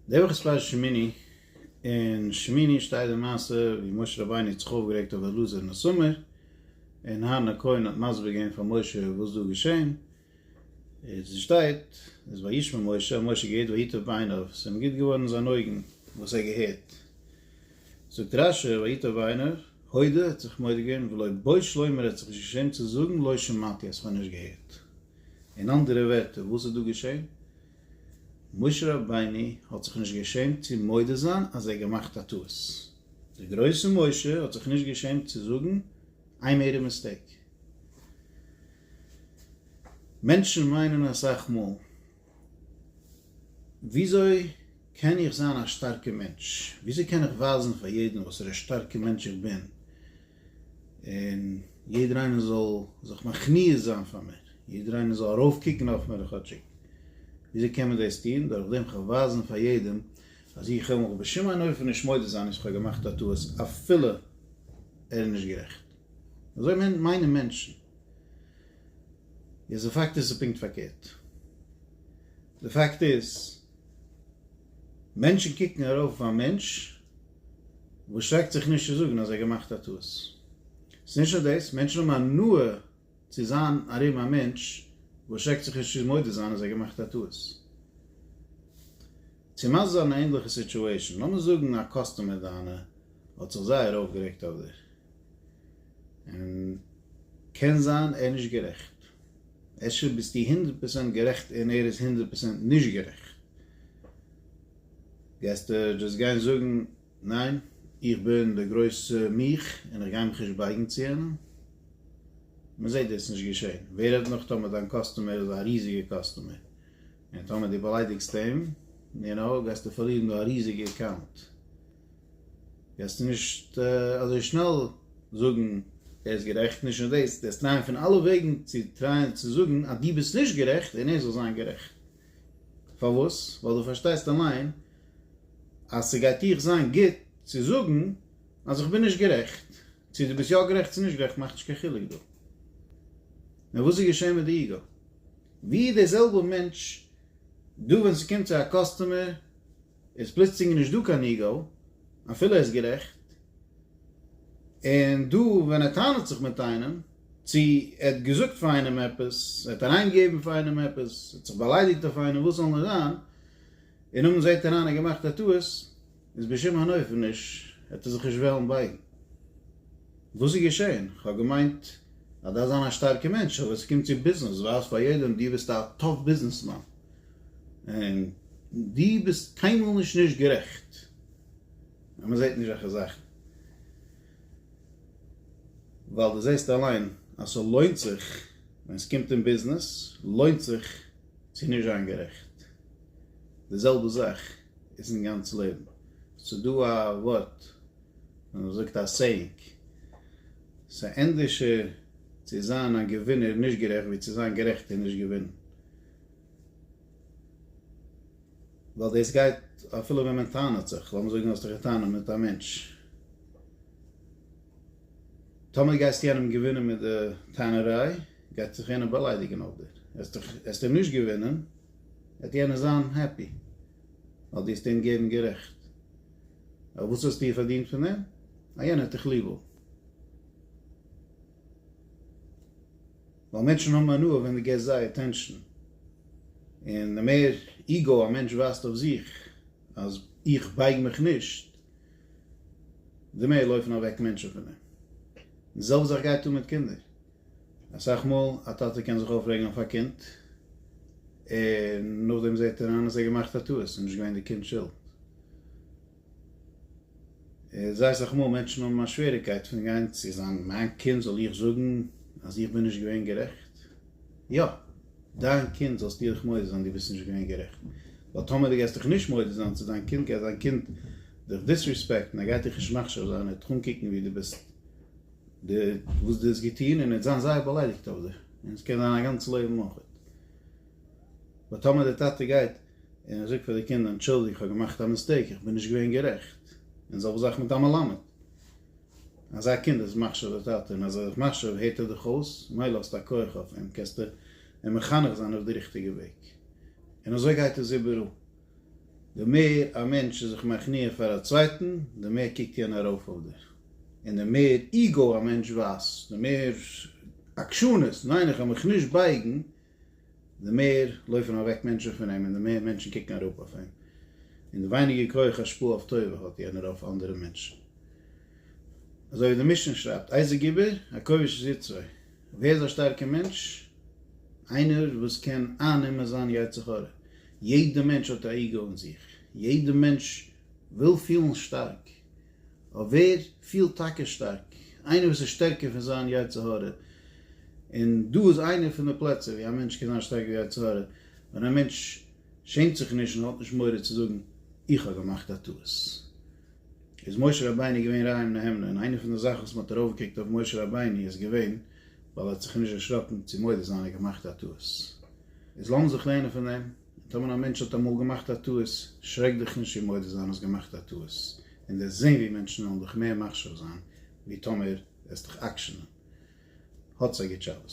די וואך איז פרשת שמיני, אין שמיני שטייט די מעשה ווי משה רבינו האט זיך אויפגערעגט אויף אלעזר און איתמר, און אהרן הכהן האט מסביר געווען פאר משה וואס דא איז געשען, איז עס שטייט, איז וישמע משה, האט משה געהערט ויטב בעיניו, עס זענען גוט געווארן זיינע אויגן וואס ער געהערט, זאגט רש י ויטב בעיניו, הודה, ער האט זיך מודה געווען, ולא בוש לומר, ער האט זיך נישט געשעמט צו זאגן, לא שמעתי, אז כ'האב נישט געהערט, אין אנדערע ווערטער, וואס איז דא געשען? משה רבינו האט זיך נישט געשעמט צו מודה זיין אז ער געמאכט א טעות, דער גרויסער משה האט זיך נישט געשעמט צו זאגן איי מעיד א מיסטעיק. מענטשן מיינען אסאך מאל וויאזוי קען איך זיין א שטארקע מענטש, וויאזוי קען איך ווייזן פאר יעדן וואס א שטארקע מענטש איך בין, און יעדער איינער זאל זיך מכניע זיין פאר מיר, יעדער איינער זאל ארויף קוקן אויף מיר כאטשיג. וויאזוי קען מען דאס טון? דורך דעם כ'וועל ווייזן פאר יעדעם אז איך וועל מיך בשום אין אופן נישט מודה זיין אז כ'האב געמאכט א טעות אפילו ער איז נישט גערעכט. אזוי מיינען מענטשן. יעצט די פאקט איז ס'איז פונקט פארקערט. די פאקט איז מענטשן קוקן ארויף אויף א מענטש וואס שרעקט זיך נישט צו זאגן אז ער האט געמאכט א טעות. ס'איז נישט נאר דאס, מענטשן האבן הנאה צו זיין ארום א מענטש וואס שרעקט זיך נישט צו מודה זיין אז ער האט געמאכט א טעות. צו מסביר זיין א ענדליכע סיטואשען, לאמיר זאגן א קאסטומער דיינע האט זיך זייער אויפגערעגט אויף דיר, און קען זיין ער איז נישט גערעכט, אפשר ביסטו הונדערט פראצענט גערעכט און ער איז הונדערט פראצענט נישט גערעכט, גייסטו דאס גיין זאגן ניין איך בין די גרויסע מיך און איך גיי מיך נישט בייגן צו איהם? מען זעט דאס נישט געשען, ווער רעדט נאך טאמער דיין קאסטומער איז א ריזיגע קאסטומער און טאמער דו באליידיגסט אים, נו נו, גייסטו פארלירן דא א ריזיגע אקאונט. וועסטו נישט אזוי שנעל זאגן ער איז גערעכט, נישט נאר דאס, וועסט טרייען פון אלע וועגן צו טרייען צו זאגן אז דו ביסט נישט גערעכט און ער זאל זיין גערעכט. פארוואס? ווייל דו פארשטייסט אליין אז ס'גייט דיך זיין גוט צו זאגן אז איך בין נישט גערעכט. צו דו ביסט יא גערעכט צו נישט גערעכט מאכט נישט קיין חילוק דא. נאר וואס איז געשען מיט די איגו? ווי דער זעלבער מענטש דא ווען ס'קומט צו א קאסטומער, איז פלוצלינג נישט דא קיין איגו, אפילו ער איז גערעכט, און דא ווען ער טענה'ט זיך מיט איינעם, צו ער האט געזאגט פאר איינעם עפעס, ער האט אריין געגעבן פאר איינעם עפעס, ער האט זיך באליידיגט אויף איינעם וואס זאל נישט זיין, און נאכדעם זעהט ער איין ער האט געמאכט א טעות, איז בשום אין אופן נישט, וועט ער זיך נישט וועלן בייגן. וואס איז געשעהן? כ'האב געמיינט אז דארפסט זיין א שטארקע מענטש, אבער ווען ס'קומט צו ביזנעס, ווייז פאר יעדעם דו ביסט א טאף ביזנעסמאן. און דו ביסט קיינמאל נישט נישט גערעכט אז מען זעט נישט אזעלכע זאכן, ווייל דו זעסט אליין אז ס'לוינט זיך, ווען ס'קומט אין ביזנעס לוינט זיך צו נישט זיין גערעכט. די זעלבע זאך איז אין גאנץ לעבן. ס'דא א ווארט, ווי מ'זאגט א סעיאינג, ס'ענדערשער צו זיין א געווינער נישט גערעכט ווי צו זיין גערעכט און נישט געווינען. ווייל דאס גייט אפילו ווען מען טענה'ט זיך, לאמיר זאגן האסט דיך געטענה'ט מיט א מענטש, טאמער גייסטו יענעם געווינען מיט די טענה'ריי, גייט זיך יענער באליידיגען אויף דיר, העסטו אים נישט געווינען, וועט יענער זיין העפי, ווייל דו האסט אים געבן גערעכט, אבער וואס האסטו פארדינט פון דעם? אז יענער האט דיך ליבעל. ווייל מענטשן האבן הנאה ווען דו געסט זיי אטענשאן, און די מער איגאו א מענטש ווייזט אויף זיך אז איך בייג מיך נישט, די מער לויפן אוועק מענטשן פון אים. די זעלבע זאך גייט אן מיט קינדער, אסאך מאל א טאטע קען זיך אויפרעגן אויף א קינד, און נאכדעם זעט ער איין אז ער האט געמאכט א טעות, איז נישט געווען די קינד'ס שולד. איך ווייס אז מאל מענטשן האבן א שוועריקייט פון גיין צו זיין מיין קינד זאל איך זאגן אז איך בין נישט געווען גערעכט? יא! דיין קינד זאלסטו דיך מודה זיין דו ביסט נישט געווען גערעכט, ווייל טאמער דו גייסט דיך נישט מודה זיין צו דיין קינד גייט דיין קינד דיך דיסריספעקטן ער גייט דיך נישט מחשיב זיין ער וועט דיך אנקוקן ווי דו ביסט די וואס דו האסט געטון און ער וועט זיין זייער באליידיגט אויף דיך און עס קען זיין א גאנץ לעבן אויכעט. ווייל טאמער די טאטע גייט און ער זאגט פאר די קינדער אנטשולדיגט איך האב געמאכט א מיסטעיק איך בין נישט געווען גערעכט, און זעלבע זאך מיט א מלמד, אזא קינד איז מחשיב די טאטע און אז ער איז דיך מחשיב הערט ער דיך אויס, מילא האסטו א כח אויף אים קענסטו אים מחנך זיין אויף די ריכטיגע וועג, און אזוי גייט עס איבעראל, די מער א מענטש איז זיך מכניע פאר א צווייטן די מער קוקט יענער ארויף אויף דיר, און די מער איגאו א מענטש ווייזט, די מער עקשנות, ניין איך וועל מיך נישט בייגן, די מער לויפן אוועק מענטשן פון אים און די מער מענטשן קוקן אראפ אויף אים, און די ווייניגער כח השפעה אויף טובה האט יענער אויף אנדערע מענטשן. אזוי ווי די משנה שרייבט, איזה גיבור? הכובש את יצרו. ווער איז א שטארקער מענטש? איינער וואס קען אייננעמען זיין יצר הרע. יעדער מענטש האט א איגו אין זיך, יעדער מענטש וויל פילן שטארק, אויף ווער פילט טאקע שטארק, איינער וואס איז שטערקער פון זיין יצר הרע, און דא איז איינער פון די פלעצער ווי א מענטש קען זיין שטארקער ווי יצר הרע, ווען א מענטש שעמט זיך נישט און האט נישט מורא צו זאגן איך האב געמאכט א טעות. איז משה רבינו געווען רע עם נהמנה, און איינער פון די זאכן וואס מען האט ארויפגעקוקט אויף משה רבינו איז געווען ווייל ער האט זיך נישט דערשראקן צו מודה זיין ער האט געמאכט א טעות. איז לאמיר זיך לערנען פון דעם. טאמער א מענטש האט אמאל געמאכט א טעות, שרעק דיך נישט צו מודה זיין האסט געמאכט א טעות, און דעסט זען ווי מענטשן וועלן דיך מער מחשיב זיין ווי טאמער עסט דיך עקשנ'ן. האטס א גוט שבת.